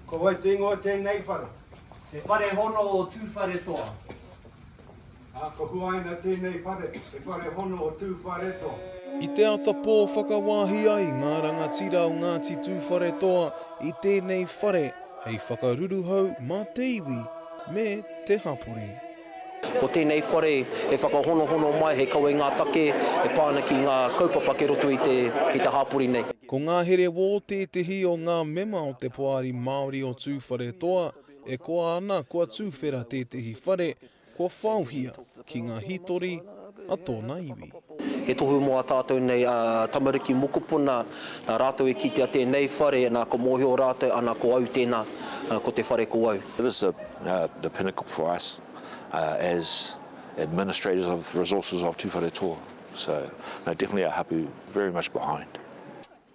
Ko wai te ingoa o tēnei whare? He whare hono o Tūwharetoa. Ā, ko huaina tēnei whare, he whare hono o Tūwharetoa. I te ata pō whakawāhi ai ngā rangatira o Ngāti Tūwharetoa i tēnei whare hei whakaruruhau mā te iwi me te hapori. Ko tēnei whare e whakahonohono mai he kawe ngā take e pā ana ki ngā kaupapa kei roto i te, i te hāpori nei. Ko ngā here wō tētehi o ngā mema o te Poari Māori o Tūwharetoa e koa ana kua tūwhera tētehi whare kua whaohia ki ngā hītori, a tōna iwi. He tohu mō a tātou nei a tamariki mokopuna, nā rātou e kitea tēnei whare, nā ka mōhio rātou ana ko au tēnā, ko te whare ko au. It is the pinnacle for us as administrators of resources of Tuwharetoa, so definitely our hapu very much behind.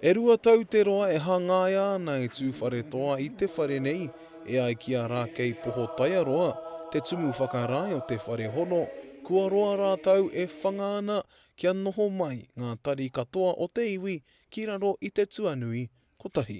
E rua tau te roa e hangaia ana e Tūwharetoa i te whare nei, e ai ki a Rākei Pohotaiaroa, te tumu whakarae o te whare hono, kua roa rātou e whanga ana kia noho mai ngā tari katoa o te iwi ki raro i te tuanui kotahi.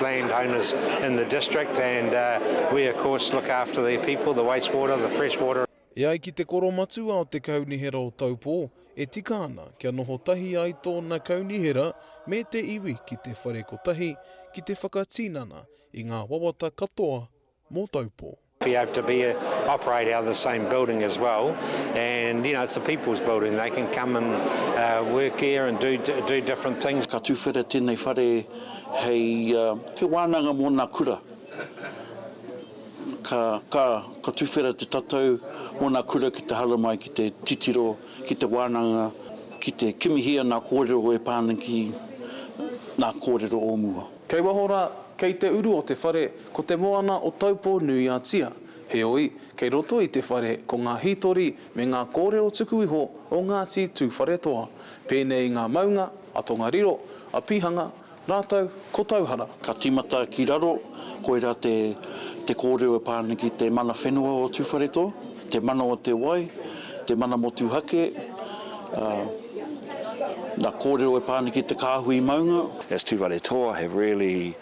land owners in the district and we of course look after their people, the waste water, the fresh water. E ai ki te koro matua o te Kaunihera o Taupō, e tika ana kia noho tahi ai tōna kaunihera me te iwi ki te whare kotahi ki te whakatinana i ngā wawata katoa mō Taupō. Be able to be operate out of the same building as well and you know it's the people's building they can come and work here and do do different things. Ka tuwhera tēnei whare hei he wānanga mō nā kura. Ka ka ka tuwhera te tatau mō nā kura ki te haramai ki te titiro ki te wānanga ki te kimihia nā kōrero e pā ana ki nā kōrero o mua. Kei waho rā, kei te uru o te whare, ko te moana o Taupō-nui-a-Tia. Heoi, kei roto i te whare ko ngā hītori me ngā kōrero tuku iho o Ngāti Tūwharetoa, pēnei i ngā maunga a Tongariro, a Pihanga, rātou ko Tauhara. Ka tīmata ki raro, koirā te kōrero e pā ana ki te mana whenua o Tūwharetoa. Te mana o te wai, te mana motuhake, ā, nā kōrero e pā ana ki te kāhui maunga. As Tū Whare Toa have really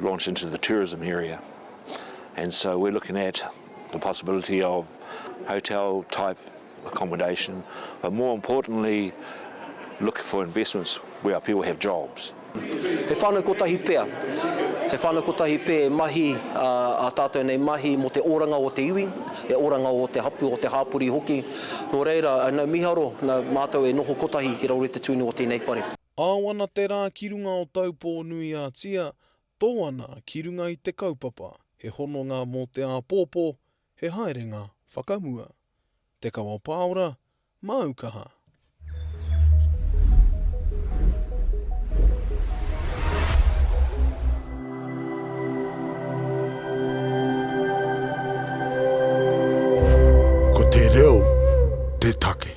launched into the tourism area and so we're looking at the possibility of hotel type accommodation but more importantly look for investments where our people have jobs. He whānau kotahi pea. He whānau kotahi pea e mahi ā tātou nei mahi mō te oranga o te iwi, te oranga o te hapū, o te hāpori hoki. Nō reira, nau miharo, nā mātou e noho kotahi ki raro i te tuinu o tēnei whare. Ao ana te rā ki runga o Taupō nui a Tia, tō ana ki runga i te kaupapa, he hononga mō te āpōpō, He haerenga whakamua. Te kawa pāora, māu kaha. Ko te reo te take.